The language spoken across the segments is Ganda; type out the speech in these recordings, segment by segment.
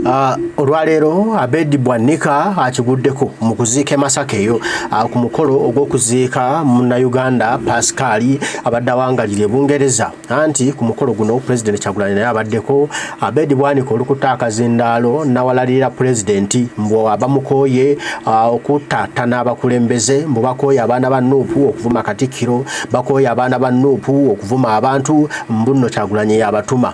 Uh, olwaleero Abedi Bwanika akiguddeko mu kuziika emasaka eyo uh, ku mukolo ogw'okuziika munnayuganda Pascal abadde awangalira ebungereza anti ku mukolo guno pulezidenti Kyagulanyi naye abaddeko Abedi Bwanika olukuta akazindaalo nawalalirira pulezidenti mbu abamukooye uh, okutattana abakulembeze mbu bakooye abaana ba nuupu okuvuma katikkiro bakooye abaana ba nuupu okuvuma abantu mbu nno Kyagulanyi yabatuma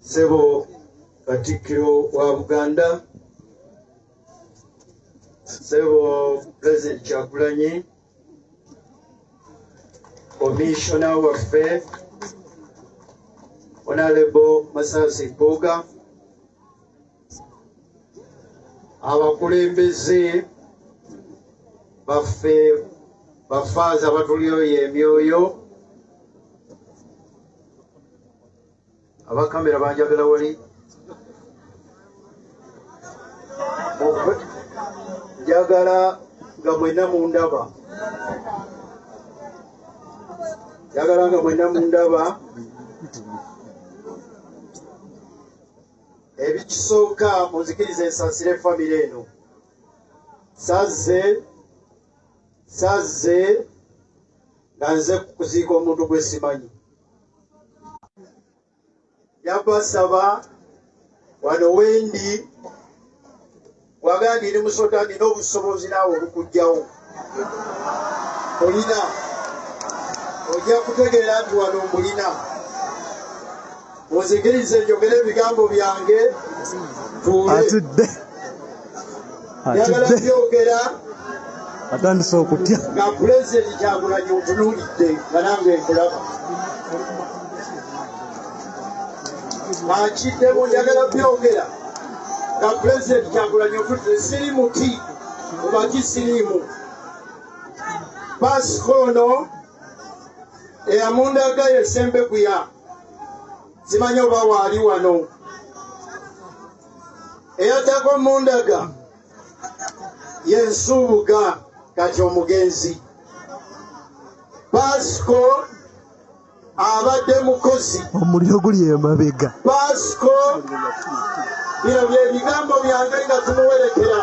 Sebo Katikkiro wa Buganda, Sebo President Kyagulanyi, Commissioner waffe Honorable Masasi Mpuuga, abakulembeze baffe bafaaza batulyoyo emyoyo aba kamera banjagala wali njagala nga mwena mundaba njagala nga mwena mundaba ebikisooka munzikiriza ensasire efamire eno sazze sazze nga nze kuziika omuntu gwesimanyi yabasaba wano wendi wagandi eri musota nina obusobozi naawe obukujjawo olina ojja kutegeera nti wano mbulina onzikirize njogere ebigambo byange tuule atidde atandise okutya nga pulezidenti kyagulanyi otunulidde nga nange nkulaba akiddemu njagala byogera nga pulezidenti kyagulanyi otunulidde siri muti mubaki siriimu baasika ono eyamundaga yesembeguya zimanyi oba waali wano eyaddako mundaga yensuubuga kati omugenzi pasco abadde mukozi omuliro guli emabega pasco bino byebigambo byange nga tumuwerekera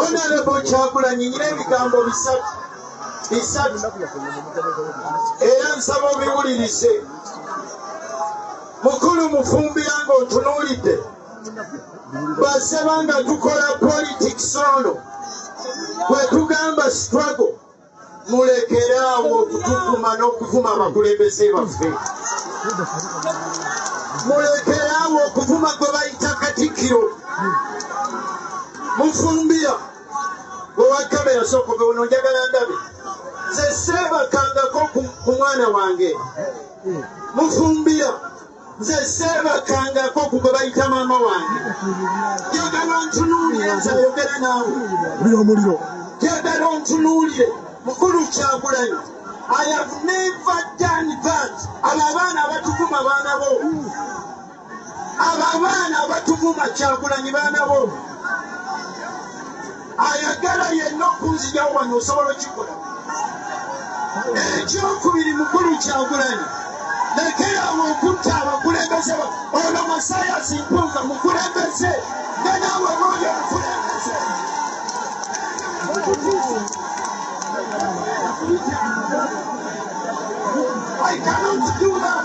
onalebo kyakulanyi nyina ebigambo bisatu bisatu era nsaba obiwulirize Mukulu Mufumbira ng'otunuulidde basaba nga tukola politics ono bwe tugamba struggle mulekere awo okutuvuma n'okuvuma abakulembeze baffe mulekere awo okuvuma gwe bayita katikkiro mufumbira owakamera sokobe ono njagala ndabe zeseebakangako ku mwana wange mufumbiro nze seebakkangako ku gwe bayita maama wange jagala ontunuulire nze ayogera naawe buli omuliro jagala ontunuulire mukulu kyagulanyo i have never done that abo abaana abatukuma baana bo Abo abaana abatuvuma Kyagulanyi baana bo. Ayagala yenna okunzija wano osobola okikola. Ekyokubiri mukulu Kyagulanyi lekerawo okutta abakulembeze ono Masayasi Mpuuga mukulembeze nga naawe booyo omukulembeze. I cannot do that.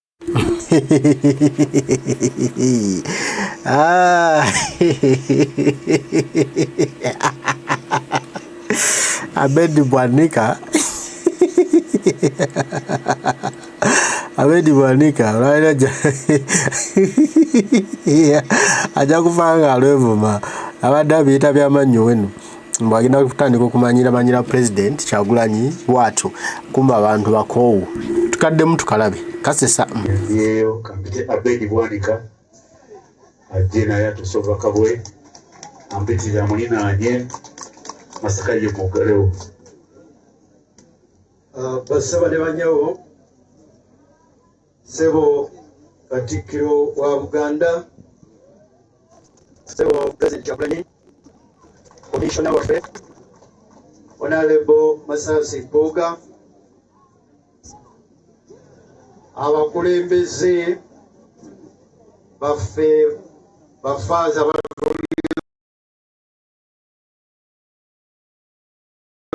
ah. Abedi Bwanika Abedi Bwanika olwalira ajja kufa nga alwevuma abadde abiyita byamannyi wenu mbu agenda kutandika okumanyira manyira president kyagulanyi bwatyo kumba abantu bakoowu tukaddemu tukalabe kasesa yeyo kampite abedi bwanika ajje naye atusoba kabwe ampitirira mulinanye masaka ye mugalewo ah, basaba ne banyawo Sebo Katikkiro wa Buganda, Sebo President Kyagulanyi, Komishona waffe Honorable Masasi Mpuuga, abakulembeze baffe bafaaza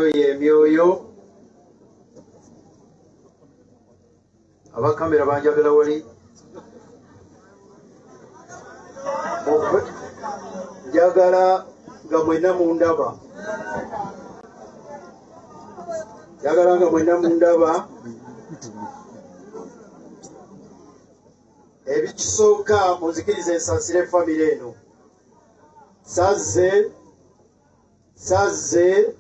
oyo emyoyo abakamera banjagala wali njagala nga mwena mundaba njagala nga mwena mundaba ebikisooka munzikiriza ensasire efamire eno sazze sazze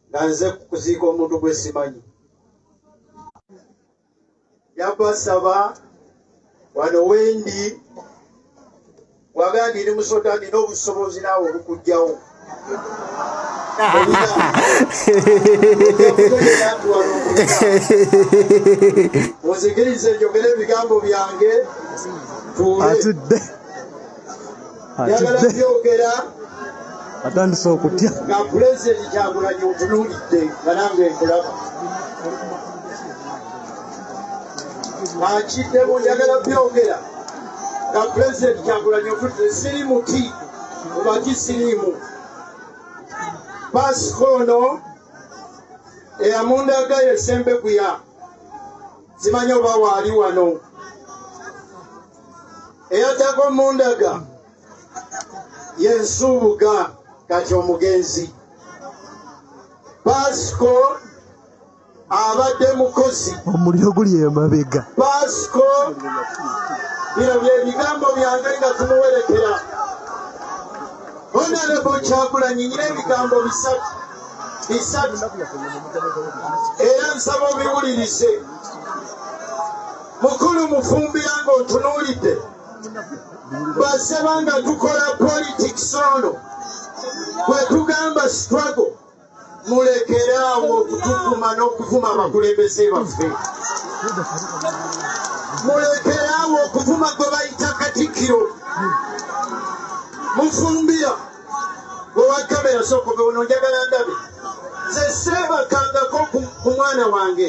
nga nze kuziika omuntu gwe simanyi yabasaba wano wendi wagandi ni musota nina obusobozi naawe obukujjawo muzikirize njogere ebigambo byange tuule atidde atandise okutya nga pulezidenti kyagulanyi otunulidde nga nange nkulaba akiddemu njagala byogera nga pulezidenti kyagulanyi otunulidde siri muti obaki siriimu basika ono eyamundaga yesembeguya zimanyi oba waali wano eyaddako mundaga yensuubuga kati omugenzi pasco abadde mukozi omuliro guli emabega pasco bino byebigambo byange nga tumuwerekera onalebo kyakulanyi nyina ebigambo bisatu bisatu era nsaba obiwulirize Mukulu Mufumbira ng'otunuulidde baseba nga tukola politics ono bwe tugamba struggle mulekere awo okutuvuma n'okuvuma abakulembeze baffe mulekere awo okuvuma gwe bayita katikkiro mufumbira owa kamera sookobe ono njagala ndabe zeseebakangako ku mwana wange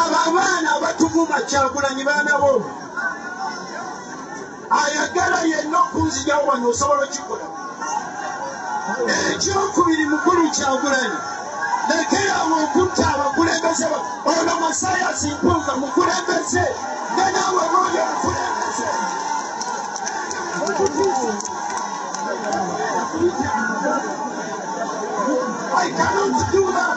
Abo abaana abatuvuma Kyagulanyi baana boomu. Ayagala yenna okunzijawo wano osobola okikola. Ekyokubiri mukulu Kyagulanyi lekerawo okutta abakulembeze ba ono Masayasi Mpuuga mukulembeze nga naawe booyo omukulembeze. I cannot do that.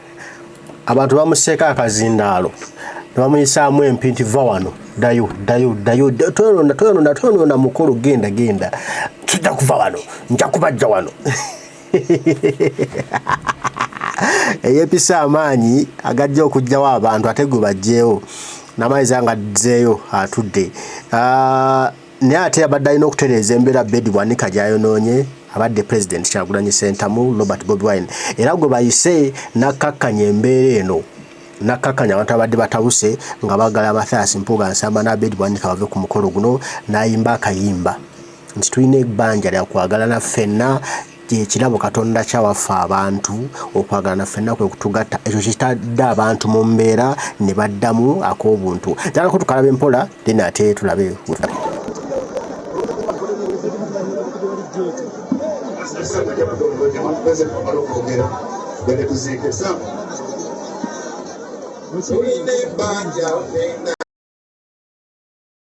abantu bamuseeko akazindaalo nebamuyisaamu empi nti va wano dayo dayo dayo toyonona toyonona toyonona mukulu genda genda kijja kuva wano nja kubajja wano eyepisa amaanyi agajja okugjawo abantu ate gwe bajjeewo namaiza nga dzeeyo atudde ah, naye ate abadde alina okutereeza embeera bedi bwanika gyayonoonye abadde president kyagulanyi sentamu robert bobi wine era gwe bayise nakkakkanya embeera eno nakkakkanya abantu abadde batabuse nga bagala mathias mpuga nsamba n'abedi bwanika bave ku mukolo guno n'ayimba akayimba nti tulina ebbanja lya kwagalana ffenna Ky'ekirabo Katonda kyawa ffe abantu, okwagalana ffenna kwe kutugatta. Ekyo kye kitadde abantu mu mbeera ne baddamu ak'obuntu. Njagala ko tukalabe mpola, then ate tulabe we tuva. Tulina ebbanja ffenna.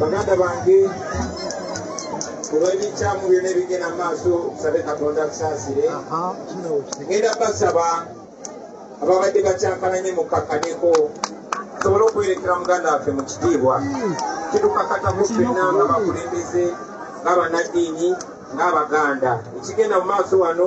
baganda bange olw'ebikyamu byona ebigenda mu maaso tusabe katonda tusaasire ngenda basaba ababadde bakyankalanye mukkakkanyeko tusobole okwerekera muganda waffe mu kitiibwa kitukakatamu ffenna nga bakulembeze nga banaddiini nga abaganda ekigenda mu maaso wano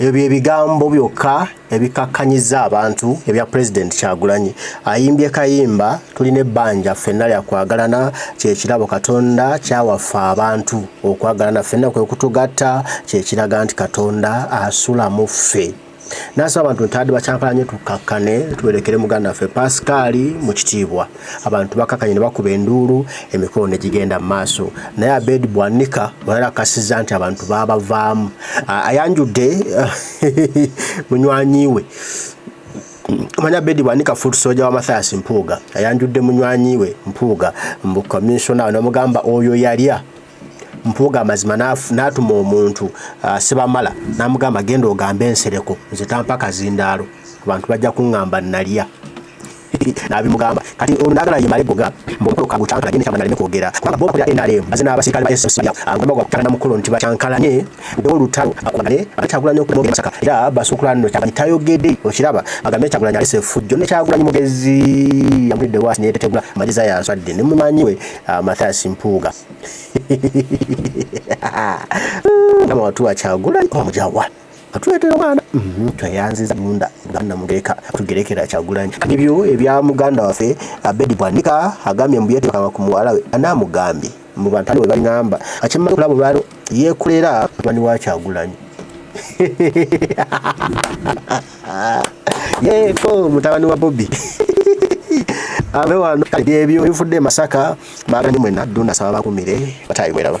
Ebyo bye bigambo byokka ebikakkanyiza abantu ebya Pulezidenti Kyagulanyi. Ayimbye kayimba tulina ebbanja ffenna lya kwagalana kye kirabo Katonda kyawaffe abantu. Okwagalana ffenna kwe kutugatta kye kiraga nti Katonda asula mu ffe. N'asaba abantu ntaadi bakyankalanye tukkakkane tuwerekere muganda waffe Pasikaali mu kitiibwa. abantu bakakanye ne bakuba enduulu emikolo ne gigenda mu maaso naye abed bwanika bweyali akasiza nti abantu babavaamu ayanjudde munywanyi we manya bedi bwanika food soja wa mathias mpuuga ayanjudde munywanyi we mpuuga mbu commissioner namugamba oyo yalya mpuuga amazima n'atuma omuntu uh, sibamala n'amugamba genda ogambe ensereko nze tampa kazindaalo abantu bajja kuŋŋamba nalya n'abimugamba kati ono n'agala ye male goga mbokolo kagu chankala gende kyamanya aleme kwogera kubanga bo bakulira NRM baze n'abasirikale ba SSC agomba okutana na mukolo nti bacankalanye bewo lutalo bakubale bakyagulanye okudda mu masaka era basukulana no kyamanyi tayogedde okiraba bagambe kyakulanya alese effujjo ne kyakulanya mugezi yamulidde waasi ne yetetegula amagezi ayo aswadde ne mumanyi we ah, Mathias Mpuuga kama watu wakyagulanye omujawa atuletera omwana mhm, tweyanziza munda bwana mugereka tugerekera kyagulanyi ebyo ebya muganda waffe abedi bwanika agambye mbu yetekanga ku muwala we anamugambye mu bantu aliwe balingamba akimala okulaba olwalo yekolera mwani wa kyagulanyi yeko mutabani wa bobi abe wano kale byebyo bifudde masaka bagani mwena duna saba bakumire batayiweraba